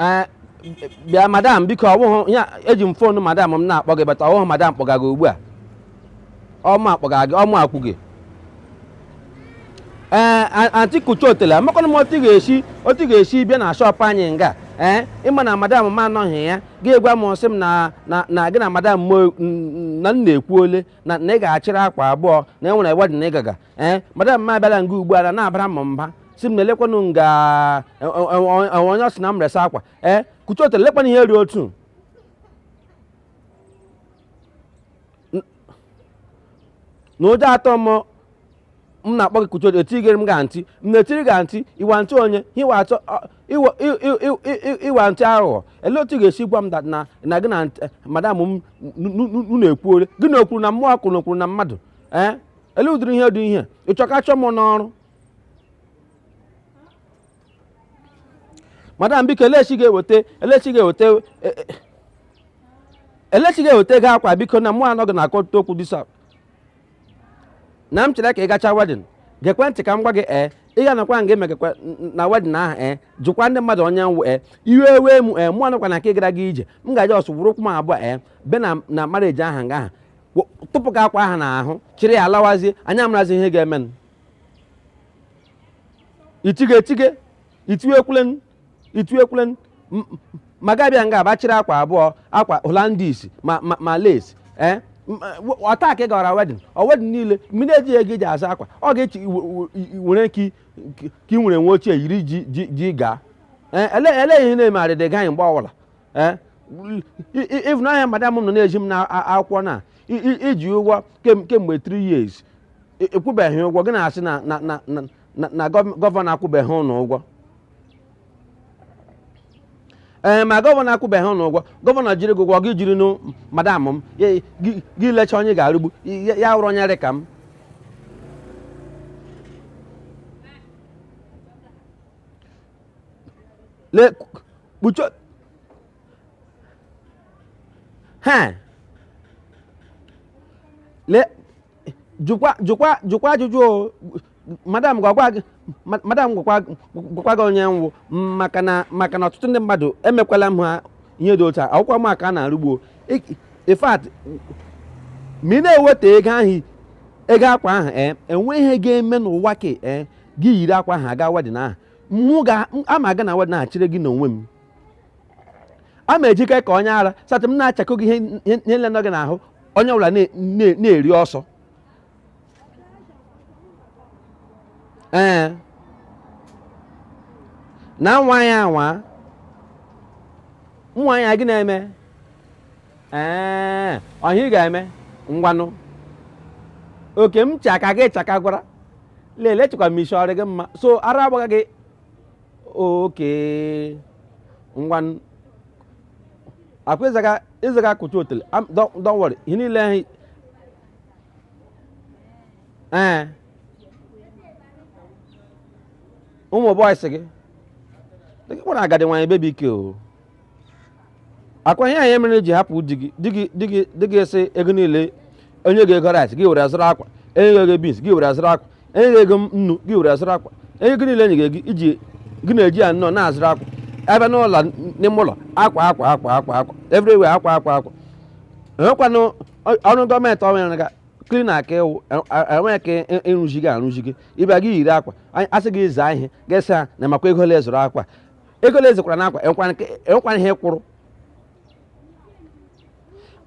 ee bịa madam biko ọwụhụ ya eji m fonu madam m na-akpọ gị but ọwụhụ madam kpọga gị ugbu a ọma akpọga gị ọma akwụ gị ee a- anti kucha otele amakwana m otu ị ga-esi otu ị ga-esi bịa na shọpụ anyị nga ee ị ma na madam m anọghị ya gị gwa m sị m na na na gị na madam m o- n- n- na m na ekwuole na na ị ga-achịrị akwa abụọ na ị nwere wedin ị ga-aga ee eh, madam m abịala nga ugbu a na na-abara m mba si m na elekwanụ nga e, e, e, onye ọ sị na m resa akwa ee eh, kuchi otu elekwana ihe rị otu na ụjọ atọ m m na-akpọ gị kuchi otu etigere m ga ntị m na-etiri ga ntị iwa ntị onye iwa atọ ịwa ntị aghụghọ ele otu ị ga-esi gwa m na na gị na madam m na-ekwuore gị na o kwuru na mmụọ kwuru na o kwuru na mmadụ ee eh? ele ụdịrị ihe dị ihe ị chọ ka a chụọ m n'ọrụ madam biko elechi ga-eweta elechi ga-eweta e- e- elechi ga-eweta ego akwa biko na mụ anọghị na-akọta okwu disa na m chere ka ị gacha wedin gekwe ntị ka m gwa gị ee ị ga-anọkwa nga e megakwa na wedin ahụ ee jụkwa ndị mmadụ onye m wụ ee iwe ewe m ee mụ anọkwa na nke gara gị ije m ga-aje ọsọ were ụkwụ m abụọ ee be na na marieji ahụ nga ahụ tụpụ gị akwa ahụ n'ahụ chịrị ya lawazie anyị amarazi ihe ga-eme itige etige itiwekwulen itiwekwulen ma gị abịa nga bịa chịrị akwa abụọ akwa holandis ma ma lace ee eh? ọ taa ka ị gara wedin ọ wedin niile ma ị na-ejighị ego iji azụ akwa ọ ga-echi were ka ị nwere nwe ochie yiri ji gaa eh? elee ihe na-eme arịdị gaghị mgbe ọbụla ee ị bịa n'ahịa madam m nọ na-eji m na a- akwụkwọ na i- i- i ji ụgwọ kem- kemgbe 3 years i- ị kwụbeghị ụgwọ gị na-asị na na na na na- na gọv- gọvanọ akwụbeghị ụnụ ụgwọ ee ma gọvanọ akwụbeghị ụnụ ụgwọ gọvanọ jiri gị ụgwọ gị jirinụ madam m ya- gị gị lecha onye ga-arụgbu ya ya wụrụ onye rị ka m le kpucho ha le jụkwa jụkwa jụkwa ajụjụ o madam gwakwa gị ma- madam gwakwa gwakwa gị onye m wụ maka na maka na ọtụtụ ndị mmadụ emekwala m ha ihe dị otu a awụkwa m aka a na-arụgbuo Ik- in fact ma ị na-ewetahụ ego akwa ahụ ee enwe ihe ga-eme n'ụwa ka ee gị yiri akwa ahụ aga wedin ahụ mụ ga ama aga na wedding na-achịrị gị n'onwe m ama ejike ka onye ara satị m na-achakọ gị ihe ihe- ihe nile nọ gị n'ahụ onye ọbụla na- na- na-eri ọsọ ee na nwa ya anwa nwa ya gị na-eme ee ọ ihe a ị ga-eme ngwanụ oke m chaka gị chaka gwara lele chekwa m isi ọ rị gị mma so ara agbaga gị oke ngwanụ akwa ịzaga ịzaga akụcha otele am- don't don't worry ihe niile ahụ ee ụmụ bọyịsị gị gị kpọrọ agadi nwaanyị bebi ike o ọ kwa ihe a mere i ji hapụ di gị di gị di gị di gị sị ego niile o nye gị ego rice gị were azụrụ akwa enye gị ego beans gị were azụrụ akwa enye gị ego nnu gị were azụrụ akwa ego niile enye gị ego iji gị na-eji ya nnọọ na-azụrụ akwa a bịa n'ụlọ n'ime ụlọ akwa akwa akwa akwa akwa everywhere akwa akwa akwa enwekwanụ ọ- ọrụ gọọmenti ọ nwere ga klina ka ị wụ enweghị ka ị- ịrụzi gị arụzi gị ị bịa gị yiri akwa anyị- a sị gị zaa ihe gị sị ha na makwa ego ole zụrụ akwa ego ole zụkwara n'akwa enwekwana ihe kwụrụ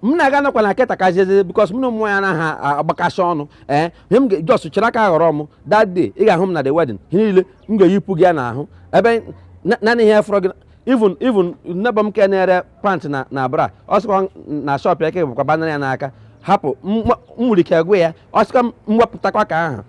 m na-aga nakwa na keta ka jeze bikos m na ụmụ ya anaghị agbakasị ọnụ ee ihe m jos chere aka ghọrọ m that day ị ga-ahụ m na the wedding ihe niile m ga-eyipụ gị ya n'ahụ ebe naanị ihe fọrọ gị even even nebọ m ke na-ere pant na na bra ọ sịkwa na shọp ya ke bụkwa banara ya n'aka hapụ m nwere ike gwa ya ọ sịkwa m wepụtakwa ka aha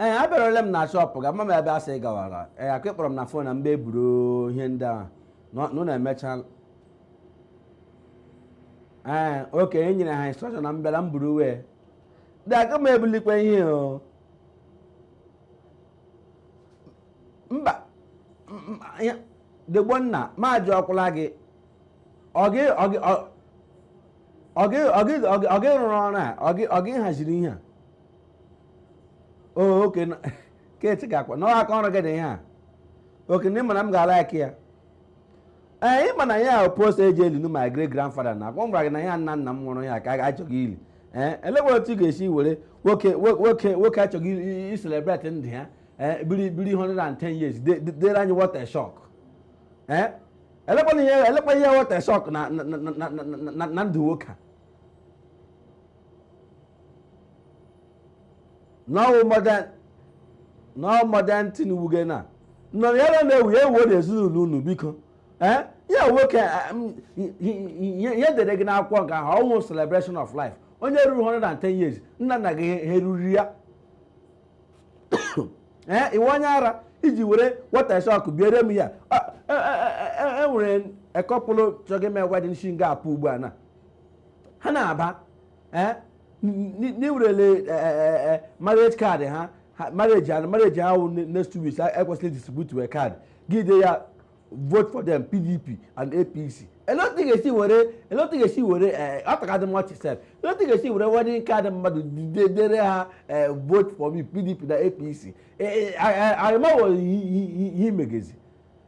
ee eh, abịaruola m na shọpụ gị amam ebe i si gawara ee eh, ọ kwa ị kpọrọ m na fon na m bịa buru ihe ndị a unu na-emecha ee eh, oke e nyere ha instrọkshọn na m bịara m buru uwe dị aga m ebulikwa ihe o mba degbo nna ma jụ ọkwụla gị ọ gị ọ gị ọ gị rụrụ ọrụ a ọ gị haziri ihe a oke keti ga-akwa na aka ọrụ gị dị ihe a oke na ịma na m ga-ala aka ya ee ịma na ya wụ post e ji eli nụ my great grandfather na ọ kwa m gwara gị na ya nna nna m nwụrụ ya ka a chọga ili ee elekwa otu ị ga-esi were nwoke nwoke nwoke a chọga iselebreti ndụ ya ee biri biri 110 years dere anyị what a shock ee elekwana ihe elekwa ihe what a shock na ndụ nwoke a now modern now modern thing wụ gị na nọ ya na na-ewu ya ewuo na ezinụlọ unu biko ee ya nwoke ihe e deere gị n'akwụkwọ nke ahụ ọ wụ celebration of life onye ruru 110 years nna nna gị ha eruru ya ee ị wụ onye ara iji were what a shock biere m ya e nwere couple chọga ime wedding shi nga apụ ugbu a na ha na-aba eh, na i werele eh, eh, marriage card ha marriage and marriage ahụ next two weeks e kwesịrị distribute we card gị dee ya vote for them pdp and apc elee otu ị ga-esi were elee otu ị ga-esi were ọ tọkadị m ọchị sef elee otu ị ga-esi were wedding card mmadụ dere ha vote for me pdp na apc arịmawo ihe imegezi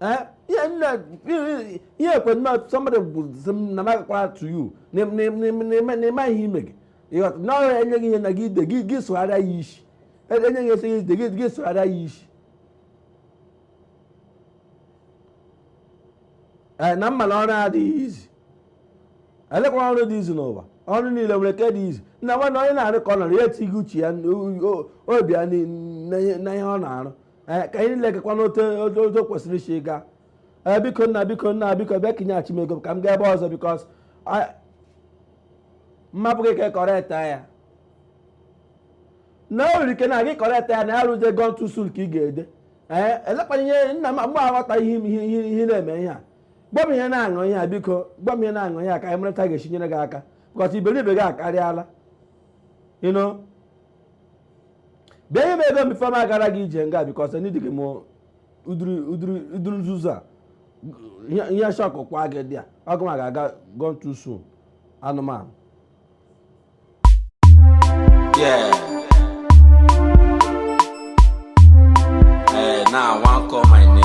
Eh? ihe nne ihe ekwe nne somebody bụzi m na magakwara to you n'ịma ihe ime gị ịghọta na ọhịa e nye gị ihe na gị ide gị gị sụgharịa ya isi e, e nye gị esi gị ide gị gị sụgharịa ya isi ee eh, na m ma na ọrụ adịghị easy elekwa ọrụ dị easy n'ụwa ọrụ niile nwere ke dị easy nna nwa na onye na-arụkwanụ ọrụ ya etinye uche ya obi ya na ihe ọ na-arụ ee ka ihe niile gakwaa n'otu otu otu o kwesịrị isi gaa ee biko nna biko nna biko bịa ka i nyeghachi m ego m ka m gaa ebe ọzọ because m hapụ gị ka ị correctia ya na o nwere ike na gị correctia ya na ya wụzie gone too soon ka ị ga-ede ee elekwana ihe nna m mgbe aghọta ihe m- ihe ihe- ihe na-eme ihe a gwa m ihe na-aṅụ ihe a biko gwa m ihe na-aṅụ ihe a ka anyị mara otu a ga-esi nyere gị aka because iberibe gị akarịala ị nụ bịa nye m ego m before m agara gị ije nga because edighị m ụdịrị nzuzu a ihe shockụ kwa gị there ọ gị ga-aga gone too soon anụmanụ Yeah. Hey, now I want call my name.